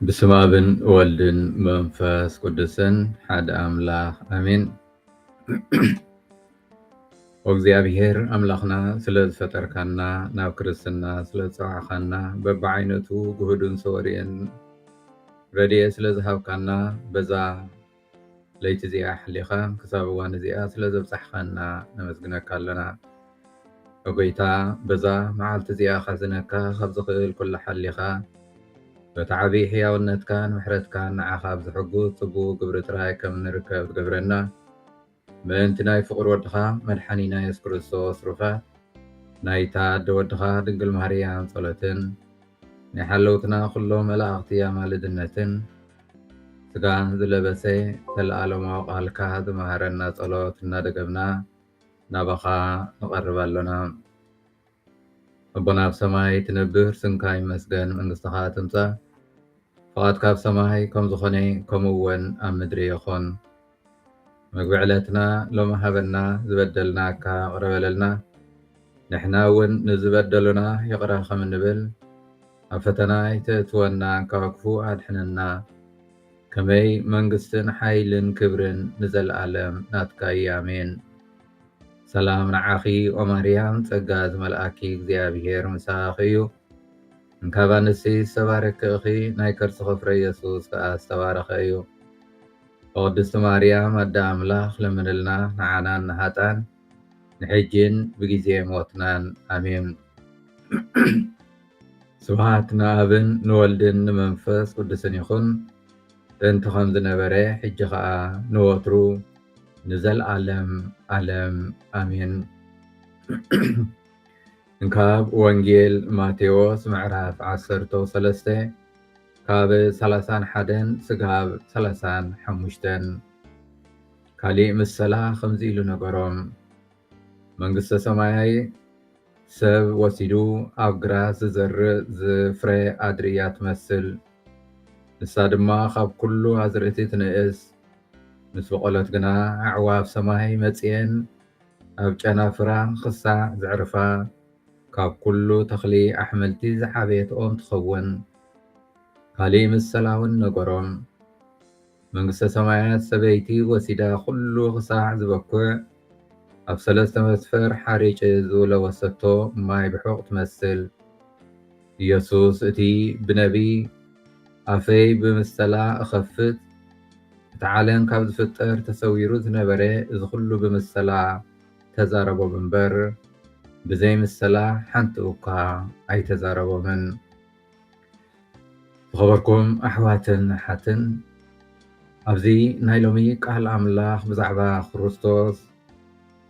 ብስመ ኣብን ወልድን መንፈስ ቅዱስን ሓደ ኣምላኽ ኣሜን። እግዚኣብሔር ኣምላኽና ስለ ዝፈጠርካና ናብ ክርስትና ስለ ዝፀዋዕካና በብዓይነቱ ግሁድን ሰወርየን ረድኤ ስለ ዝሃብካና በዛ ለይቲ እዚኣ ሓሊኻ ክሳብ እዋን እዚኣ ስለ ዘብጻሕኻና ነመስግነካ ኣሎና። ኦ ጎይታ በዛ መዓልቲ እዚኣ ከሕዝነካ ካብ ዝኽእል ኩሉ ሓሊኻ በቲ ዓቢ ሕያውነትካን ምሕረትካን ንዓኻ ብዝሕጉስ ጽቡቕ ግብሪ ጥራይ ከም እንርከብ ትገብረና። ምእንቲ ናይ ፍቑር ወድኻ መድሓኒና የሱስ ክርስቶስ ሩፋት ናይታ ኣደ ወድኻ ድንግል ማርያም ጸሎትን ናይ ሓለውትና ኩሎም መላእኽቲ ኣማልድነትን ስጋ ዝለበሰ ዘለኣለማዊ ቃልካ ዝመሃረና ጸሎት እናደገምና ናባኻ ንቐርብ ኣሎና። ኣቦና ኣብ ሰማይ ትነብር ስምካ ይመስገን መንግስትኻ ትምጻእ ፍቓድካ ኣብ ሰማይ ከም ዝኾነ ከምኡ ወን ኣብ ምድሪ ይኹን መግቢ ዕለትና ሎሚ ሃበና ዝበደልናካ ይቕረ በለልና ንሕና እውን ንዝበደሉና ይቕረ ከም እንብል ኣብ ፈተና ኣይተእትወና ካብ ክፉ ኣድሕነና ከመይ መንግስትን ሓይልን ክብርን ንዘለኣለም ናትካ እዩ ኣሜን ሰላም ንዓኺ ኦማርያም ጸጋ ዝመልኣኪ እግዚኣብሄር ምሳኺ እዩ እንካብ ኣንስቲ ዝተባረኪ እኺ ናይ ከርስኺ ፍረ ኢየሱስ ከኣ ዝተባረኸ እዩ ቅድስቲ ማርያም ኣደ ኣምላኽ ለምንልና ንዓናን ንሃጣን ንሕጂን ብግዜ ሞትናን ኣሜን ስብሃት ንኣብን ንወልድን ንመንፈስ ቅዱስን ይኹን ጥንቲ ከም ዝነበረ ሕጂ ኸኣ ንወትሩ ንዘልኣለም ኣለም ኣሜን። ካብ ወንጌል ማቴዎስ ምዕራፍ ዓሰርተው ሰለስተ ካብ ሰላሳን ሓደን ስጋብ ሰላሳን ሓሙሽተን ካሊእ ምሰላ ከምዚ ኢሉ ነገሮም መንግስተ ሰማያይ ሰብ ወሲዱ ኣብ ግራት ዝዘርእ ዝፍረ ኣድሪ እያ ትመስል። ንሳ ድማ ኻብ ኵሉ ኣዝርእቲ ትንእስ። ምስ በቖለት ግና ኣዕዋፍ ሰማይ መጺኤን ኣብ ጨናፍራ ኽሳዕ ዘዕርፋ፣ ካብ ኵሉ ተኽሊ ኣሕምልቲ ዝዓበየት ኦም ትኸውን። ካልእ ምሰላውን ነገሮም። መንግስተ ሰማያት ሰበይቲ ወሲዳ ኩሉ ክሳዕ ዝበኩዕ ኣብ ሰለስተ መስፈር ሓሪጭ ዝለወሰቶ ማይ ብሑቕ ትመስል። ኢየሱስ እቲ ብነቢይ ኣፈይ ብምሰላ እኸፍት እቲ ዓለም ካብ ዝፍጠር ተሰዊሩ ዝነበረ እዚ ኩሉ ብምሰላ ተዛረቦም እምበር ብዘይ ምሰላ ሓንቲ እኳ ኣይተዛረቦምን። ዝኸበርኩም ኣሕዋትን ኣሓትን ኣብዚ ናይ ሎሚ ቃል ኣምላኽ ብዛዕባ ክርስቶስ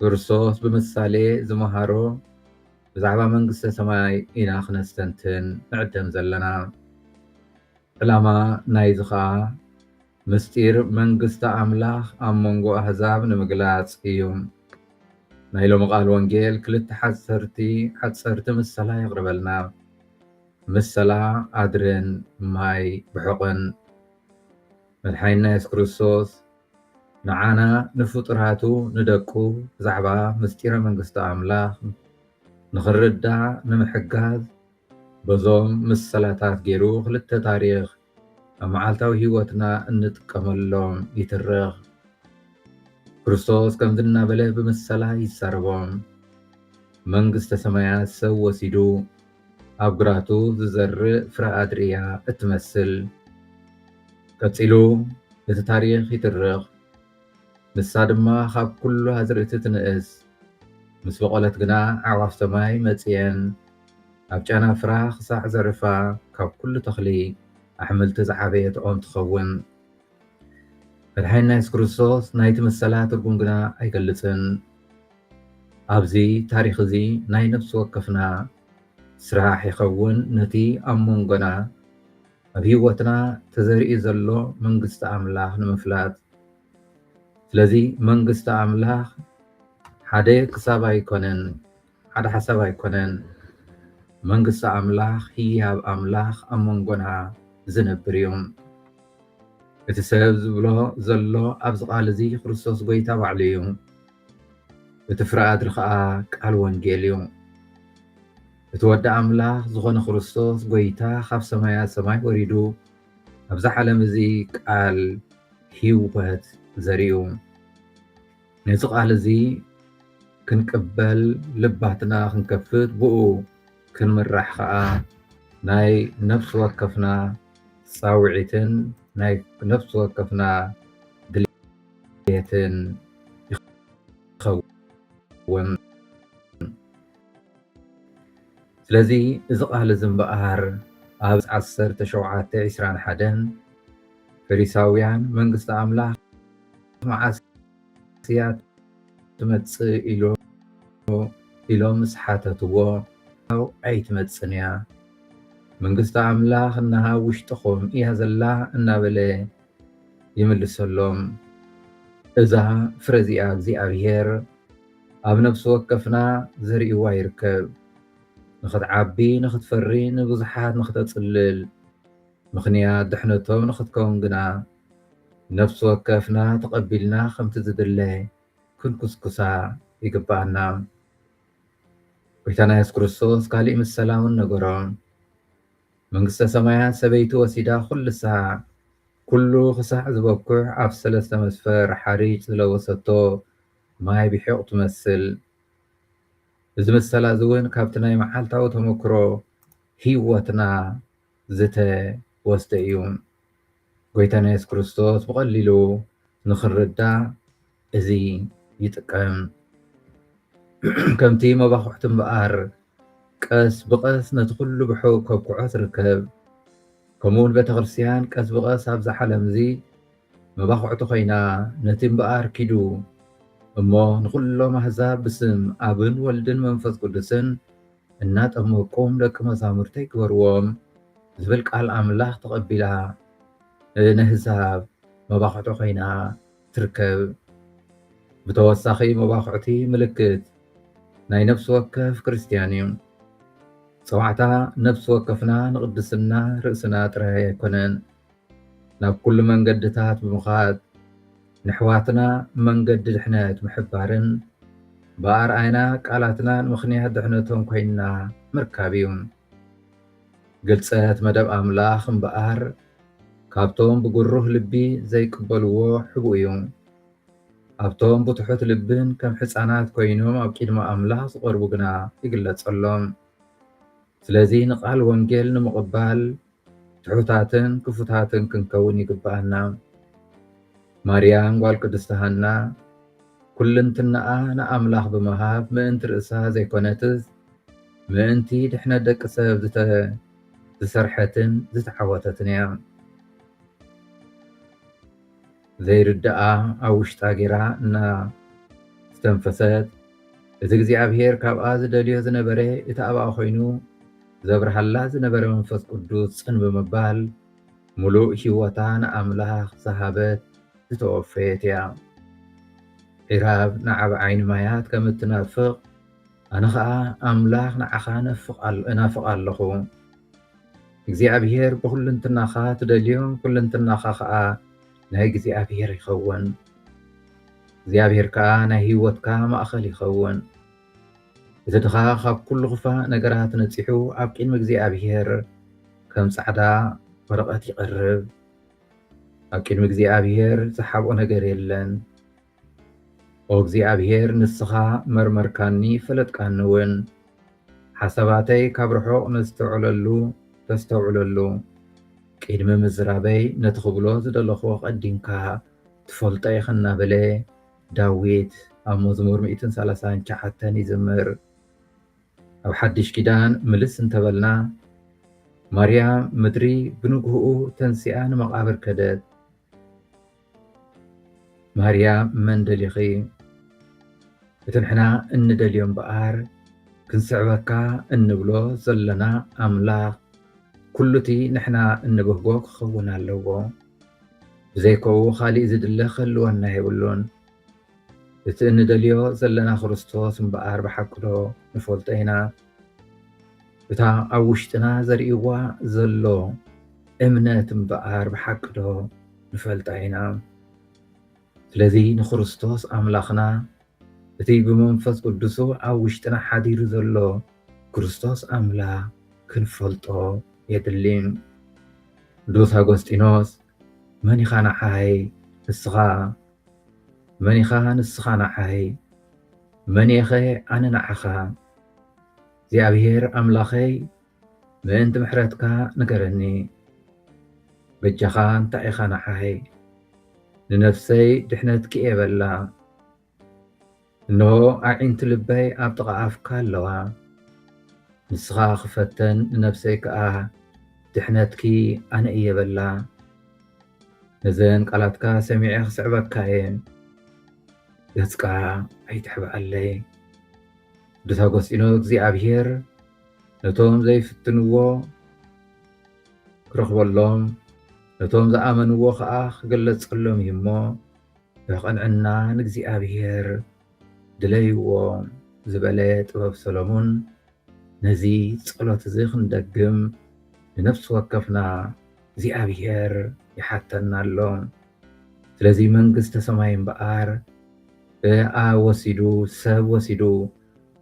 ክርስቶስ ብምሳሌ ዝመሃሮ ብዛዕባ መንግስተ ሰማይ ኢና ክነስተንትን ንዕደም ዘለና ዕላማ ናይዚ ኸኣ ምስጢር መንግስቲ ኣምላኽ ኣብ መንጎ ኣህዛብ ንምግላጽ እዩ። ናይ ሎሚ ቃል ወንጌል ክልተ ሓጸርቲ ሓጸርቲ ምሰላ የቕርበልና። ምሰላ ኣድርን ማይ ብሑቕን። መድሓኒና የሱስ ክርስቶስ ንዓና ንፍጡራቱ ንደቁ ብዛዕባ ምስጢረ መንግስቲ ኣምላኽ ንኽንርዳእ ንምሕጋዝ በዞም ምሰላታት ጌሩ ክልተ ታሪኽ ኣብ መዓልታዊ ህይወትና እንጥቀመሎም ይትርኽ። ክርስቶስ ከምዚ እናበለ ብምሰላ ይዛረቦም። መንግስተ ሰማያት ሰብ ወሲዱ ኣብ ግራቱ ዝዘርእ ፍረ ኣድሪ እያ እትመስል። ቀጺሉ እቲ ታሪኽ ይትርኽ። ንሳ ድማ ኻብ ኵሉ ኣዝርእቲ ትንእስ። ምስ በቖለት ግና ኣዕዋፍ ሰማይ መጺኤን ኣብ ጨናፍራ ኽሳዕ ዘዕርፋ፣ ካብ ኵሉ ተኽሊ ኣሕምልቲ ዝዓበየት ኦም ትኸውን። መድሓኒና የሱስ ክርስቶስ ናይቲ ምሰላ ትርጉም ግና ኣይገልጽን። ኣብዚ ታሪኽ እዚ ናይ ነፍሲ ወከፍና ስራሕ ይኸውን ነቲ ኣብ መንጎና ኣብ ህይወትና ተዘሪኡ ዘሎ መንግስቲ ኣምላኽ ንምፍላጥ ስለዚ መንግስቲ ኣምላኽ ሓደ ክሳብ ኣይኮነን ሓደ ሓሳብ ኣይኮነን መንግስቲ ኣምላኽ ህያብ ኣምላኽ ኣብ መንጎና ዝነብር እዩ እቲ ሰብ ዝብሎ ዘሎ ኣብዚ ቃል እዚ ክርስቶስ ጎይታ ባዕሉ እዩ እቲ ፍረ ኣድሪ ኸኣ ቃል ወንጌል እዩ። እቲ ወዲ ኣምላኽ ዝኾነ ክርስቶስ ጎይታ ኻብ ሰማያት ሰማይ ወሪዱ ኣብዚ ዓለም እዚ ቃል ህይወት ዘሪኡ። ነዚ ቃል እዚ ክንቅበል ልባትና ክንከፍት ብኡ ክንምራሕ ኸኣ ናይ ነፍሲ ወከፍና ጻውዒትን ናይ ነፍሲ ወከፍና ቤትን ይኸውን። ስለዚ እዚ ቃል እዚ እምበኣር ኣብ ዓሰርተ ሸውዓተ ዒስራን ሓደን ፈሪሳውያን መንግስቲ ኣምላኽ መዓስ እያ ትመጽእ ኢሎ ኢሎም ምስ ሓተትዎ ኣው ኣይትመጽን እያ መንግስቲ ኣምላኽ እነሃ ውሽጥኹም እያ ዘላ እናበለ ይምልሰሎም። እዛ ፍረ እዚኣ እግዚኣብሄር ኣብ ነፍሲ ወከፍና ዘሪእዋ ይርከብ። ንኽትዓቢ ንኽትፈሪ ንብዙሓት ንኽተጽልል ምኽንያት ድሕነቶም ንኽትከውን ግና ነፍሲ ወከፍና ተቐቢልና ከምቲ ዝድለ ክንኩስኩሳ ይግብኣና። ጐይታና የሱስ ክርስቶስ ካሊእ ምሰላ እውን ነገሮም። መንግስተ ሰማያት ሰበይቲ ወሲዳ ኩልሳ ኩሉ ክሳዕ ዝበኩዕ ኣብ ሰለስተ መስፈር ሓሪጭ ዝለወሰቶ ማይ ብሒቝ ትመስል። እዚ ምሰላ እዚ እውን ካብቲ ናይ መዓልታዊ ተመክሮ ህይወትና ዝተወስደ እዩ። ጎይታና የሱስ ክርስቶስ ብቐሊሉ ንኽንርዳእ እዚ ይጥቀም። ከምቲ መባኹዕቲ እምበኣር ቀስ ብቐስ ነቲ ኩሉ ብሕው ከብክዖ ትርከብ፣ ከምኡውን ቤተ ክርስትያን ቀስ ብቐስ ኣብዛ ዓለም እዚ መባኹዕቲ ኮይና ነቲ እምበኣር ኪዱ እሞ ንኹሎም ኣሕዛብ ብስም ኣብን ወልድን መንፈስ ቅዱስን እናጠመቅኩም ደቂ መዛሙርተይ ግበርዎም ዝብል ቃል ኣምላኽ ተቐቢላ ንህዛብ መባኹዕቲ ኮይና ትርከብ። ብተወሳኺ መባኹዕቲ ምልክት ናይ ነፍሲ ወከፍ ክርስትያን እዩ። ጸዋዕታ ነፍሲ ወከፍና ንቕድስና ርእስና ጥራይ ኣይኮነን። ናብ ኩሉ መንገድታት ብምኻድ ነሕዋትና መንገዲ ድሕነት ምሕባርን ብኣርኣያና ቃላትናን ምኽንያት ድሕነቶም ኮይንና ምርካብ እዩ። ግልጸት መደብ ኣምላኽ እምበኣር ካብቶም ብግሩህ ልቢ ዘይቅበልዎ ሕቡእ እዩ። ኣብቶም ብትሑት ልብን ከም ሕጻናት ኮይኖም ኣብ ቂድሚ ኣምላኽ ዝቐርቡ ግና ይግለጸሎም። ስለዚ ንቃል ወንጌል ንምቕባል ትሑታትን ክፉታትን ክንከውን ይግብኣና። ማርያም ጓል ቅድስቲ ሃና ኩልንትናኣ ንኣምላኽ ብምሃብ ምእንቲ ርእሳ ዘይኮነትስ ምእንቲ ድሕነት ደቂ ሰብ ዝተሰርሐትን ዝተዓወተትን እያ። ዘይርድኣ ኣብ ውሽጣ ጌራ እና ዝተንፈሰት እቲ እግዚኣብሔር ካብኣ ዝደልዮ ዝነበረ እቲ ኣብኣ ኮይኑ ዘብርሃላ ዝነበረ መንፈስ ቅዱስ ጽን ብምባል ምሉእ ህይወታ ንኣምላኽ ዝሃበት ዝተወፈየት እያ። ዒራብ ንዓብ ዓይኒ ማያት ከም እትናፍቕ ኣነ ኸኣ ኣምላኽ ንዓኻ እናፍቕ ኣለኹ። እግዚኣብሔር ብኩልንትናኻ ትደልዮ ኩልንትናኻ ኸዓ ናይ እግዚኣብሔር ይኸውን እግዚኣብሔር ከዓ ናይ ህይወትካ ማእኸል ይኸውን እቲ ድኻ ካብ ኩሉ ክፋእ ነገራት ነፂሑ ኣብ ቅድሚ እግዚኣብሔር ከም ፃዕዳ ወረቐት ይቐርብ ኣብ ቅድሚ እግዚኣብሔር ዝሓብኦ ነገር የለን ኦ እግዚኣብሄር ንስኻ መርመርካኒ ፈለጥካኒውን፣ ሓሳባተይ ካብ ርሑቕ ነስተውዕለሉ ተስተውዕለሉ፣ ቅድሚ ምዝራበይ ነቲ ክብሎ ዝደለኹ ኣቐዲምካ ትፈልጦ ኢኻ እናበለ ዳዊት ኣብ መዝሙር ሚእትን ሰላሳን ትሽዓተን ይዝምር። ኣብ ሓድሽ ኪዳን ምልስ እንተበልና ማርያም ምድሪ ብንግህኡ ተንሲኣ ንመቓብር ከደት። ማርያ መን ደሊኺ እቲ ንሕና እንደልዮ እምበኣር ክንስዕበካ እንብሎ ዘለና ኣምላኽ ኩሉ እቲ ንሕና እንብህጎ ክኸውን ኣለዎ ብዘይከኡ ኻሊእ ዝድለ ክህልወና የብሉን እቲ እንደልዮ ዘለና ክርስቶስ እምበኣር ብሓቅዶ ንፈልጦ ኢና እታ ኣብ ውሽጥና ዘርእዋ ዘሎ እምነት እምበኣር ብሓቂ ዶ ንፈልጣ ኢና? ስለዚ ንክርስቶስ ኣምላኽና እቲ ብመንፈስ ቅዱሱ ኣብ ውሽጥና ሓዲሩ ዘሎ ክርስቶስ ኣምላኽ ክንፈልጦ የድሊ። ቅዱስ ኣጎስጢኖስ መን ኢኻ ንዓይ ንስኻ መን ኢኻ ንስኻ ንዓይ መን እየኸ ኣነ ንዓኻ እግዚኣብሔር ኣምላኸይ ምእንቲ ምሕረትካ ንገረኒ በጃኻ እንታይ ኢኻ ንዓይ ንነፍሰይ ድሕነት ክእየ በላ እንሆ ኣዒንቲ ልበይ ኣብ ጥቓ ኣፍካ ኣለዋ ንስኻ ክፈተን ንነፍሰይ ከዓ ድሕነትኪ ኣነ እየ በላ ነዘን ቃላትካ ሰሚዐ ክስዕበካ እየ ገጽካ ኣይትሕብኣለይ ብተገሲኖ እግዚኣብሔር ነቶም ዘይፍትንዎ ክረኽበሎም ነቶም ዝኣመንዎ ከዓ ክገለጸሎም እዩ እሞ ብቕንዕና ንእግዚኣብሔር ድለይዎ ዝበለ ጥበብ ሰሎሞን ነዚ ጸሎት እዚ ክንደግም ንነፍሲ ወከፍና እግዚኣብሔር ይሓተና ኣሎ። ስለዚ መንግስተ ሰማይ እምበኣር ብኣ ወሲዱ ሰብ ወሲዱ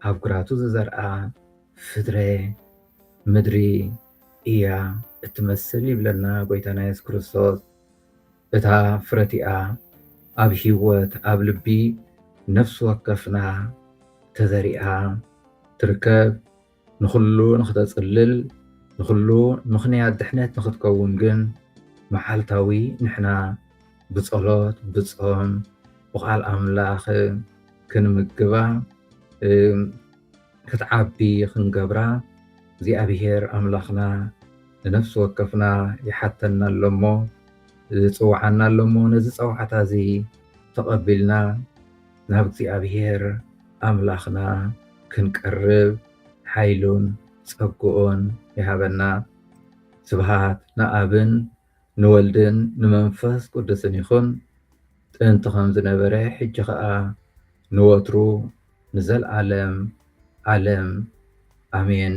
ኣብ ግራቱ ዝዘርኣ ፍትረ ምድሪ እያ እትመስል ይብለና ጎይታና የሱስ ክርስቶስ። እታ ፍረ እቲኣ ኣብ ህይወት ኣብ ልቢ ነፍሲ ወከፍና ተዘሪኣ ትርከብ። ንኹሉ ንኽተጽልል፣ ንኹሉ ምኽንያት ድሕነት ንኽትከውን ግን መዓልታዊ ንሕና ብጸሎት፣ ብጾም፣ ብቓል ኣምላኽ ክንምግባ፣ ክትዓቢ ክንገብራ እግዚኣብሄር ኣምላኽና ንነፍሲ ወከፍና ይሓተና ኣሎሞ፣ ይጽውዓና ኣሎሞ። ነዚ ጸዋዕታ እዚ ተቐቢልና ናብ እግዚኣብሔር ኣምላኽና ክንቀርብ ሓይሉን ጸግኡን ይሃበና። ስብሃት ንኣብን ንወልድን ንመንፈስ ቅዱስን ይኹን ጥንቲ ከም ዝነበረ ሕጂ ኸኣ ንወትሩ ንዘልዓለም ዓለም ኣሜን።